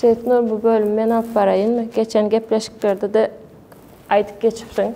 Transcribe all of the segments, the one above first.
Seýitnur bu bölümi men alyp baraýynmy? Geçen gepleşiklerde-de aýdyp geçipsiň,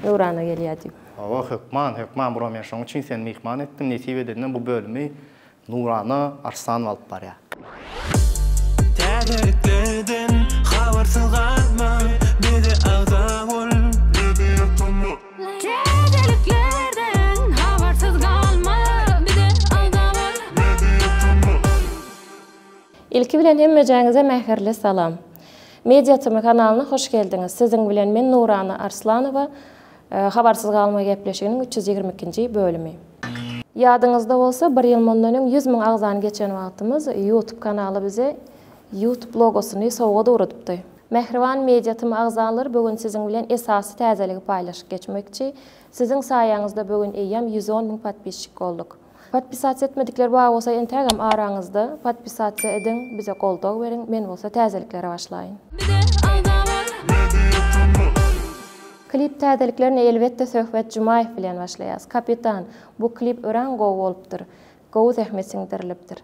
Nurana gelýär diýip. Hawa, hökman, hökman, bura men şoň üçin seni myhman etdim. Nesip edende bu bölümi Nurana Arsanowa alyp barýar. Täzeliklerden habarsyz galma, bize agza bol, bizi ýatama. Täzeliklerden habarsyz galma, bize agza bol, bizi ýatama. Ilki bilen hemmejäňize mähirli salam. Media tm kanalyna hoş geldiňiz. Siziň bilen men Nurana Arslanowa Habarsyz galma gepleşiginiň üç ýüz ýigrimi ikinji bölümi. Ýadyňyzda bolsa bir ýyl mundan öň ýüz müň agzany geçen wagtymyz Youtube kanaly bize Youtube logosyny sowgat ugradypdy. Mähriban Media tm agzalary bu gün siziň bilen esasy täzeligi paýlaşyp geçmekçi. Siziň saýaňyzda bu gün eýýäm ýüz on müň podpisçik bolduk. Podpisasiýa etmedikler bar bolsa entägem araňyzda podpisasiýa ediň bize goldaw beriň men bolsa täzeliklere başlaýyn. Bize agza bol Media Tmall. Klip täzeliklerine elbetde Söhbet Jumaýew bilen başlaýas. Kapitan, bu klip örän gowy bolupdyr. Gowy zähmet siňdirilipdir.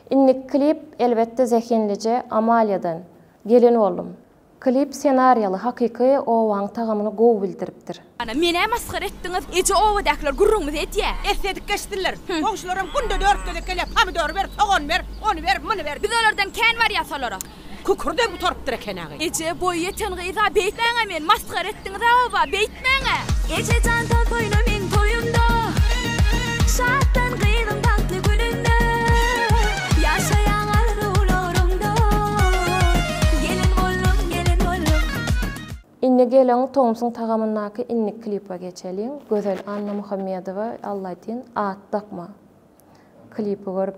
Indiki klip elbetde zehinlije Amaliýadan gelen boldum. Klip senariýaly hakyky owaň tagamyny gowy bildiripdir. Ana menä masgara etdiňiz eje obadakiler gürrüňimizi edýä. Essedik geçsinler. Goňşularam günde dört gezek gelýär, pomidory ber, sogany ber, ony ber, muny ber. Biz olardan kän barýas olara. Kükürdem gutarypdyr ekeni-agy. Eje, boýy ýeten gyz-a, beýtmäň-ä meni, masgara etdiňiz-ä oba, beýtmäň-ä! Eje jan toz toýuna meň toýumda, Şatlan gyzyň bagtly gününde, Ýaşaýaň arzuwlaryňda, Gelin boldum, gelin boldum. Indi geliň tomsuň tagamyndaky indiki klipa geçeliň. Gözel Annamuhammedowa Allaýtyn at dakma klipi görüp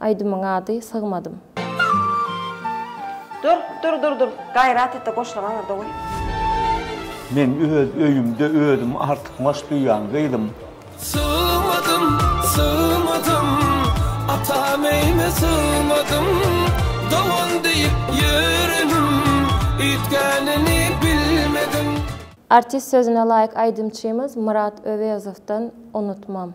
Aýdymyň ady Sygmadym. Dur dur dur dur gaýrat etde goşlaň aňyrda goý. Men öz öýümde özüm artykmaç duýýan gyzym. Sygmadym sygmadym atam öýüme sygmadym dogan diýip ýörenim üýtgänini bilmedim. Artist sözüne laýyk aýdymçymyz Myrat Öwezowdan Unutmam.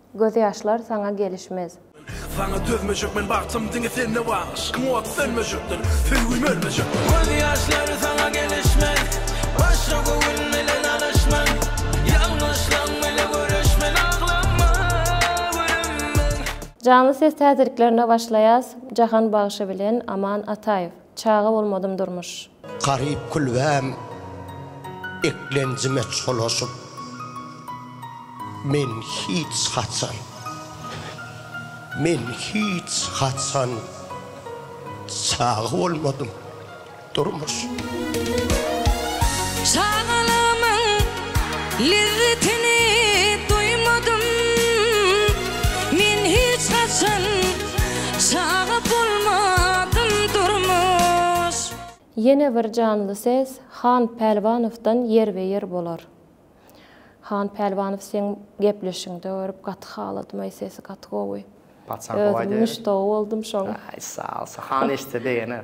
Gözýaşlar saňa gelişmez. Saňa dözmejek men bagtym diňe sende bar Yşkyň ody sönmejekdir söýgim ölmejekdir Gözýaşlar saňa gelişmez Başga göwün bilen alyşman Ýalňyşlaň bile göreşmen Aglama gülüm men. Janly ses täziriklerine başlaýas Jahan bagşy bilen Aman Ataýew. Çaga bolmadym durmuş. Garyp külbäm eklenjime çolaşyp, Men hiç haçan, men hiç haçan çaga bolmadym durmuş. Çagalygymyň lezzetini duýmadym, men hiç haçan Çaga bolmadym durmuş. Ýene bir janly ses Han Pälwanowdan ýerbe-ýer bolar. Han Pälwanow seň gepleşiňde görüp gaty haladym aý sesi gaty gowy. Paçan howa Özüm diýeris. muşdagy boldum şoň. Aý sag ol, Han eşitse begener.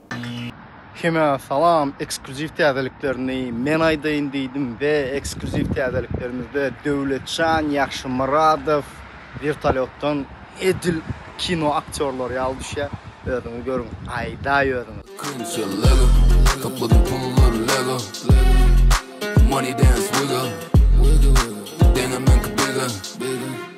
Kime salam ekskluziw täzeliklerini men aýdaýyn diýdim we ekskluziw täzeliklerimizde Döwletjan Ýagşymyradow wertolýotdan edil kino aktýorlary ýaly düşýär özüňiz görüň aýdaý özüňiz. Künçe lego topladym pullary lego money dance wiggle deňe meňki biggle.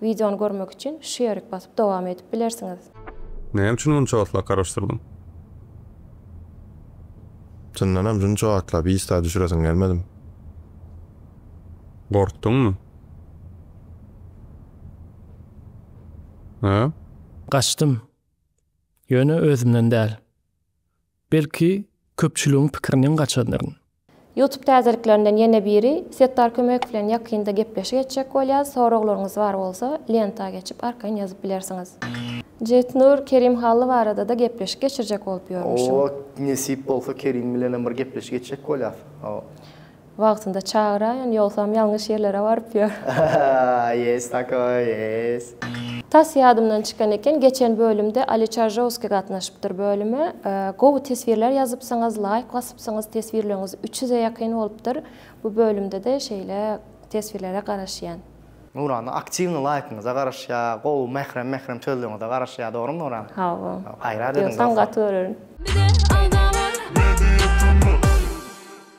Wideony görmek üçin şu ýerik basyp dowam edip bilersiňiz. Näme üçin munça wagtlap garaşdyrdyň? Çyndanam şunça wagtlap ista düşüresiň gelmedim. Gorkduňmy? Hä? Gaçdym. Ýöne özümden däl. Belki köpçüligiň pikiriniň gaçanyryn. Youtube täzeliklerinden ýene biri, Setdar Kömek bilen ýakynda gepleşik etjek bolýas, soraglaryňyz bar bolsa lenta geçip arkaýyn ýazyp bilersiňiz. Jetnur Kerim Hally barada-da gepleşik geçirjek bolup ýörmüşiň. Oba nesip bolsa Kerim bilenem bir gepleşik etjek bolýas. Wagtynda çagyraýyn ýogsam ýalňyş ýerlere baryp ýör. Ýes takoý ýes. Tas ýadymdan çykan eken geçen bölümde Ali Çarjowskiý gatnaşypdyr bölüme gowy teswirler ýazypsyňyz laýk basypsyňyz teswirleriňiz üç ýüze ýakyn bolupdyr bu bölümdede şeýle teswirlere garaşýan. Nurana aktiwny laýkyňyza garaşýa gowy mährem mährem sözleriňize garaşýa dogrymy Nuran hawa gaýrat ediň dost. Ýogsam gaty görerin. Bize agza bol.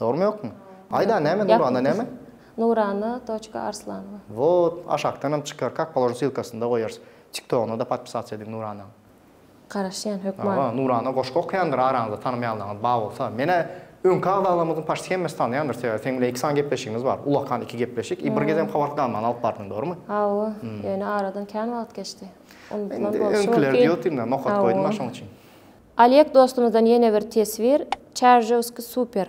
Dogrymy ýokmy? Aýda näme Nurana näme? Nurana doçka Arslanova. Wot, aşakdanam çykar, kak položim silkasynda goýarys. Tiktogyna-da podpisasiýa ediň Nuranaň. Garaşýan hökman. Hawa, Nurana goşgy okaýandyr araňyzda tanamaýanlaryňyz bar bolsa. Menä öňki agzalarymyzyň paçsi hemmesi tanýandyr, sebäbi seň bilen iki sany gepleşigimiz bar. Ulakan iki gepleşik i bir gezem Howard Gamany alyp bardyň, dogrymy? Hawa, ýöne aradan kän wagt geçdi. Unudylan bolşy mümkin. Öňkiler diýotdym-da, nokat goýdum-a şoň üçin. Oleg dostumyzdan ýene bir teswir Çaržewski super.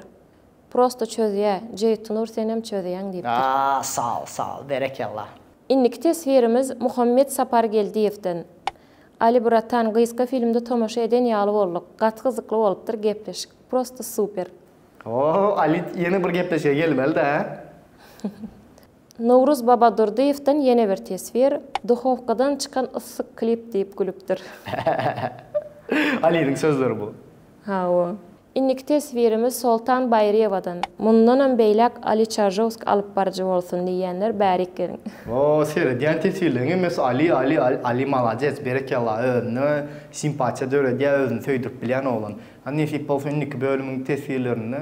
Prosto çözýä, Jeýtnur senem çözýäň diýipdir. Sag sag berekella. Indiki teswirimiz Muhammet Sapargeldiýewden. Ali bratan gysga filmde tomaşa eden ýaly bolduk. Gaty gyzykly bolupdyr gepleşik. Prosto super. Oho Ali ýene bir gepleşige gelmelidä. Nowruz Babadurdyýewden ýene bir teswir, Duhowkadan çykan yssy klip diýip gülüpdir. Halylyň sözleri bu. Hawa. Indiki teswirimiz Soltan Baýryýewadan, Mundanam beýläk Aly Çaržowski alyp baryjy bolsun diýýänler bärik geliň. O seredýän teswirleriň hemmesi Aly Aly Aly Aly malades berekella özüne simpatiýa döredýä özüni söýdürip bilýän oglan. Hany nesip bolsa indiki bölümiň teswirlerinde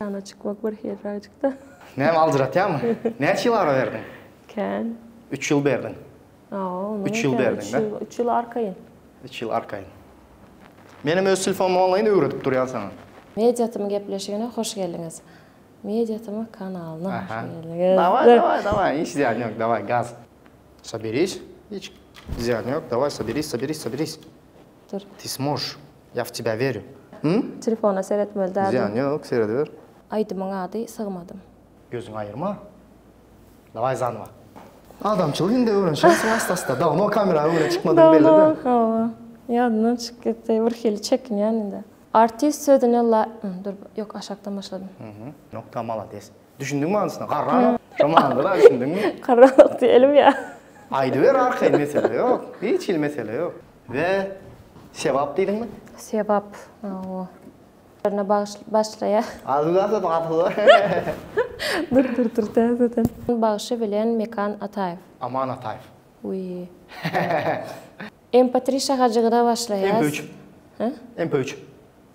Jana çykmak bir hyrraýjykda. Näme aljyratýamy? Näçe ýyl ara berdiň? Kän. Üç ýyl berdiň. Aw, onuň Üç ýyl berdiň da. Üç ýyl arkaýyn. Üç ýyl arkaýyn. Menem öz telfonumy onlaýyn öwredip durýan saňa. Media tm gepleşigine hoş geldiňiz. Media tm kanalyna hoş geldiňiz. Daway, daway, daway, hiç zyýany ýok, daway, gaz. Soberis, hiç zyýany ýok, daway, soberis, soberis, soberis. Dur. Ty smosh, ya w tebya weryu. Hum? Telefona seretmeli däldim. Zyýany ýok, serediber. Aýdymyň ady Sygmadym. Gözüňi aýyrma. Daway zanowa. Adamçylyk indi öwrenşersiň ast-ast-a. Dawno kamera öňüne çykmadyň belli-de. Dawno, hawa. Ýadymdan çykyp gitdi. Birhili çekinýän indi. Artist sözüne la, dur, ýok aşakdan başladym. Nokta, malades. Düşündiňmi manysyna? Garranok. Şo manyda-da düşündiňmi? Garranok diýelim ýa. Aýdyber arkaýyn mesele ýok. Hiç hili mesele ýok. We sebap diýdiňmi? Sebap. Hawa. Ýerine bagyş başlaýar. Adyny ýazyp gaplada. Dur dur dur täzeden. Bagşy bilen Mekan Ataýew. Aman Ataýew. Wiý. MP3 şahajygyna başlaýas. MP3. He? MP3.